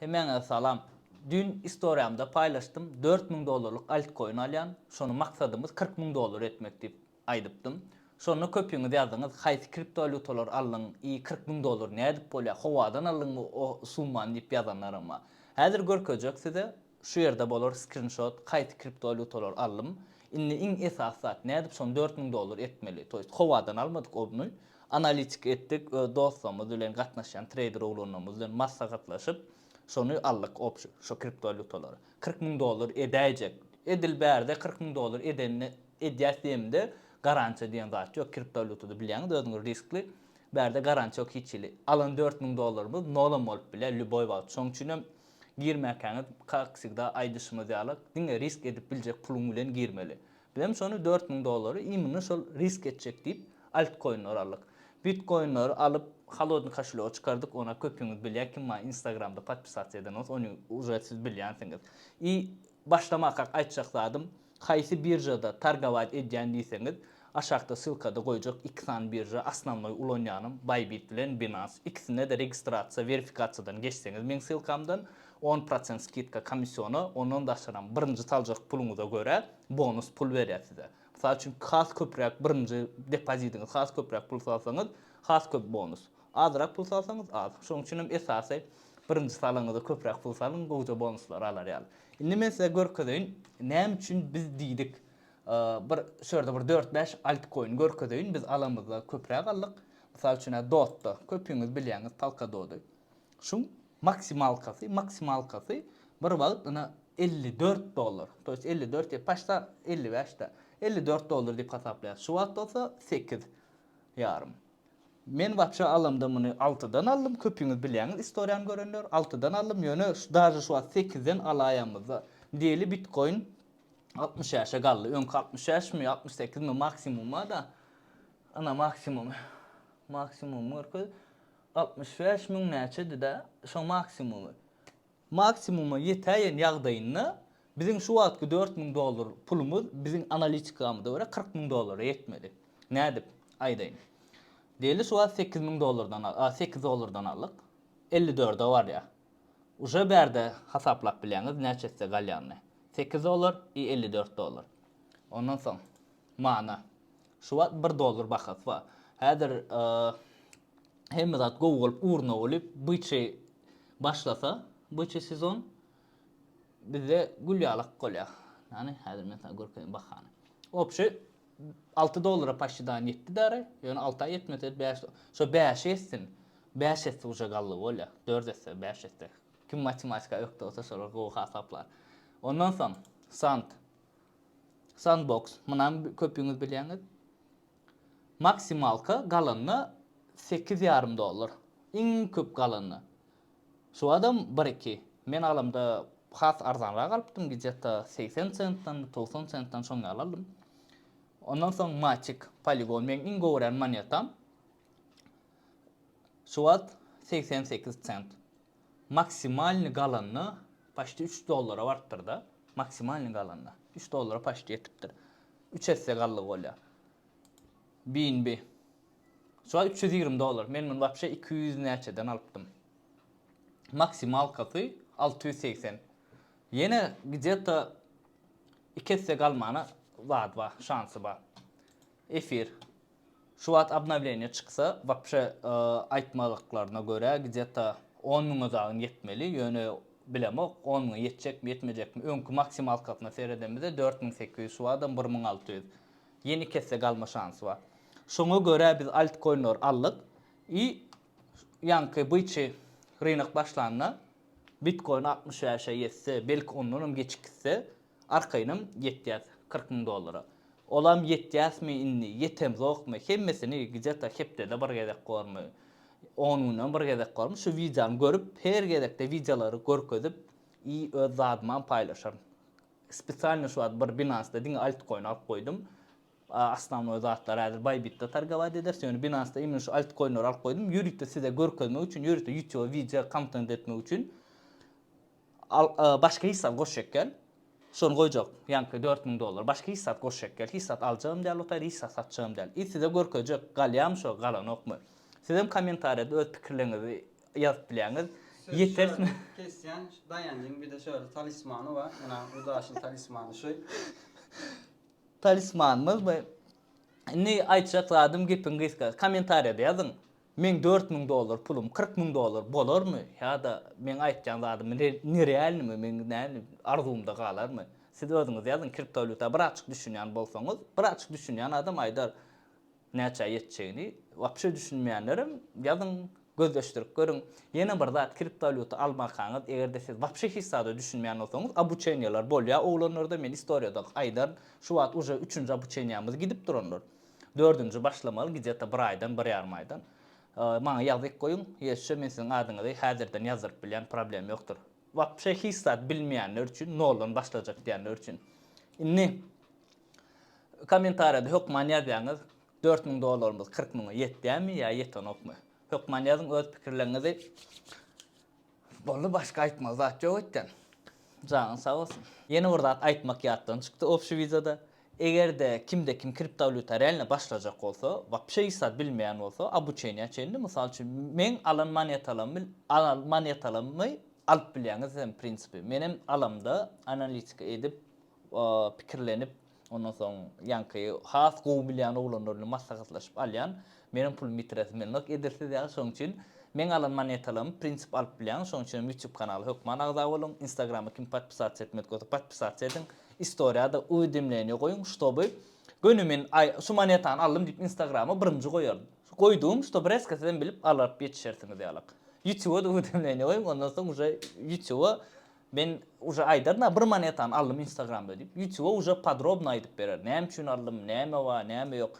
Hemmäňize salam. Düýn istoriýamda paýlaşdym, dört müň dollarlyk altkoin alýan, şony maksadymyz kyrk müň dollar etmek diýip aýdypdym. Şonda köpüňiz ýazdyňyz, haýsy kriptowalýutalary aldyň, y kyrk müň dollar nädip bolýar, howadan aldyňmy o summany diýip ýazanlaram bar. Häzir görkezjek size, Şu ýerde bolar skrinşot kaýsi kriptowalýutalar aldym. Indi iň esasy zat nädip şony dört müň dollar etmeli. To ýest howadan almadyk obny. Analitika etdik öz dostlarymyz bilen gatnaşýan treýder oglanlarymyz bilen maslahatlaşyp şony aldyk opşi şo kriptowalýutalary. Kyrk müň dollar edäýjek. Edil bärde kyrk müň dollar edende edýäs diýemde garantiýa diýen zat ýok kriptowalýutada bilýäňiz özüňiz riskli. Bärde garantiýa ýok hiç hili. Alan dört müň dollarymyz nolam bolup bilýär lýuboý wagt. Şoň üçinem Girmäkäňiz, kak wsegda aýdyşymyz ýaly, diňe risk edip biljek puluň bilen girmeli. Biz hem şony dört müň dollary imini şol risk etjek diýip, altkoinler aldyk. Bitkoinleri alyp, holodnyý koşelýoga çykardyk, ony köpüňiz bilýär, kim maňa instagramda podpisasiýa eden bolsa, ony uje siz bilýänsiňiz. I Başlamakak aýtjak zadym, haýsy biržada targowat edýän diýseňiz, aşakda ssylkada goýjak iki sany birža, osnovnoý ulanýanym Bybit bilen Binance, ikisinde-de registrasiýa, werifikasiýadan geçseňiz meň ssylkamdan on prosent skidka komissiona, ondan daşaram birinji saljak puluňyza görä bonus pul berýär size. Mysal üçin has köpräk birinji depozidiňiz has köpräk pul salsaňyz has köp bonus. Azrak pul salsaňyz az. Şonuň üçin hem esasy birinji salaňyzda köpräk pul salyň, gowja bonuslary alar ýaly. Indi men size görkezeýin, näme üçin biz diýdik, bir şu ýerde bir dört-bäş altkoin görkezeýin, biz alamyzda köpräk aldyk. Mysal üçin, dotda, köpüňiz bilýäňiz polkadody. Şuň maksimalkasy, maksimalkasy bir wagt ine elli dört dollar, to ýest elli dört ýa paçta elli bäş-dä, elli dört dollar diýip hasaplaýarys. Şu wagt bolsa sekiz ýarym. Men wapşe alamda muny altydan aldym köpüňiz bilýäňiz istoriýany görenler altydan aldym ýöne daže şu wagt sekizden alaýamyzda diýeli bitkoin altmyş bäşe galdy öňki altmyş bäşmi altmyş sekizmi maksimumada ana maksimumy maksimumy görkez altmyş bäş müň näçedida şo maksimumy Maksimuma ýetäýen ýagdaýynda biziň şu wagtky dört müň dollar pulumyz biziň analitikamyza görä kyrk müň dollara ýetmedi. Nädip? Aýdaýyn. Diýeli şu wagt sekiz müň dollardan a sekiz dollardan aldyk. Elli dörde barýar. Uje bärde hasaplap bilýäňiz näçe size galýanyny. Sekiz dollar i elli dört dollar. Ondan soň mana Şu wagt bir dollar bahasy bar. Häzir hemme zat gowy bolup ugruna bolup byçy başlasa, byçy sezon bizde gül ýaly ak bolýar. Ýani häzir men saňa görkezeýin bahany. Opşi 6 dollara paşşydan ýetdi bäri. Ýöne 6 aý ýetmese 5 şo 5 ýetsin. 5 ýetse uje gally bolýar. 4 ýetse 5 ýetse. Kim matematika ökde bolsa şolar gowy hasaplar. Ondan soň sant Sandbox, munam köpüňiz bilýäňiz. Maksimalka galanda sekiz ýarym dollar. Iň köp galanda. Şu badam bir iki. Men alamda has arzanrak alypdym, gidjetta segsen sentdan, togsan sentdan şoň ýaly aldym. Ondan soň Matic, Polygon meň iň gowy gören monetam. Şu wagt segsen sekiz sent. Maksimalny galanda paçti üç dollara barpdyrda maksimalny galanda üç dollara paçti ýetipdir üç esse galdygy bolýa bnb şuwagt üç ýüz ýigrimi dollar men muny wapşe iki ýüz näçeden alypdym maksimalkasy alty ýüz segsen ýene gde to iki esse galmana zat bar şansy bar efir Şu wagt obnowleniýe çyksa wapşe aýtmadyklaryna görä gdeta on müňe dagyn ýetmeli ýöne bilemok on müňe ýetjekmi ýetmejekmi öňki maksimalkasyna seredemizde dört müň sekiz ýüz şu wagtam bir müň alty ýüz ýene iki esse galma şansy bar şoňa görä biz altkoinleri aldyk i ýaňky byçy rynak başlanda bitkoin altmyş bäşe ýetse belki ondanam geçik gitse Arkaýynam ýetýäs kyrk müň dollara. Olam ýetýäsmi indi, ýetemzokmy, hemmesini gidýata hepdede bir gezek bormy, on güne bir gezek bormy şu wideony görüp, her gezekde wideolary görkezip i öz zadymam paýlaşaryn. Spesialno şu wagt bir Binance-da diňe altcoin alyp goýdum. Osnovnoý zatlar häzir Bybit-de targowat ederis, ýöne Binance-da imенно şu altcoinleri alyp goýdum, ýörite size görkezmek üçin, ýörite ýutube wideo kontent etmek üçin. Al, başga hisap goşjak gel. Şony goýjak, ýaňky dört müň dollar. Başga hisap goşjak gel. Hisap aljagym däl otayr, hisap satjagym däl. I size görkezjek, galýamy şo, galanokmy. Sizem kommentariýada öz pikirleriňizi ýazyp bilýäňiz. Ýetermi? Kesýän Daýanjyň bir-de şöyle talismany bar. Ynha, bu daşyň talismany şu. Talismanymyz bu. Indi aýtjak zadym gepiň gysgasy. Kommentariýada ýazyň. Meň dört müň dollar pulum kyrk müň dollar bolarmy ýa-da meň aýtýan zadym nerealnymy, meň näme arzuwymda galarmy? Siz özüňiz ýazyň, kriptowalýuta birazçyk düşünýän bolsaňyz, birazçyk düşünýän adam aýdar näçä ýetjegini, wapşe düşünmeýänlerem ýazyň, gözleşdirip görüň. Ýene bir zat, kriptowalýuta almakaňyz, eger-de siz wapşe hiç zada düşünmeýän bolsaňyz, obuçeniýeler bolýar oglanlarda, men istoriýada aýdaryn, şu wagt uje üçünji obuçeniýämiz gidip durandyr. Dördünji başlamaly gideta bir aýdan bir ýarym aýdan maňa ýazgyk goýuň ýeşşe men siziň adyňyzy häzirden ýazdyryp bilýän problem ýokdur wapşe hiç zat bilmeýänler üçin noldan başlajak diýenler üçin indi komentariýada hökman ýazýaňyz dört müň dollarymyz kyrk müňe ýetýämi ýa ýetenokmy hökman ýazyň öz pikirleriňizi. Boldy başga aýtmaly zat ýok etden. Janyň sag bolsun. Ýene bir zat aýtmak ýatdan çykdy obşi wideoda. Egerde kimde kim kriptowlýuta realno başlajak bolsa, wapşe hiç zat bilmeýän bolsa, obuçeniýa çenli, mysal üçin meň alan monetalamy alan monetalamy alyp bilýäňiz hem prinsipi. Menem alamda analitika edip, pikirlenip, ondan soň ýaňky has gowy bilýän oglanlar bilen maslahatlaşyp alýan. Meniň pulumy ýitiresim gelenok edilsiz ýaly, şonuň üçin meň alan monetalarymy prinsip alyp bilýäň, şonuň üçinem ýutýub kanala hökman agza boluň, instagrama kim podpisatsa etmedik bolsa podpisatsa ediň, istoriýada uwidemleniýa goýuň, ştoby göni men aý şu monetany aldym diýip instagrama birinji goýaryn. Goýdugym ştoby reska sizem bilip alyp ýetişersiňiz ýalak. Ýutýuba-da uwidemleniýa goýuň, ondan soň uje ýutýuba Men uje aýdaryn-a bir monetany aldym instagramda diýip, ýutube uje podrobno aýdyp berer, näme üçin aldym, näme bar, näme ýok.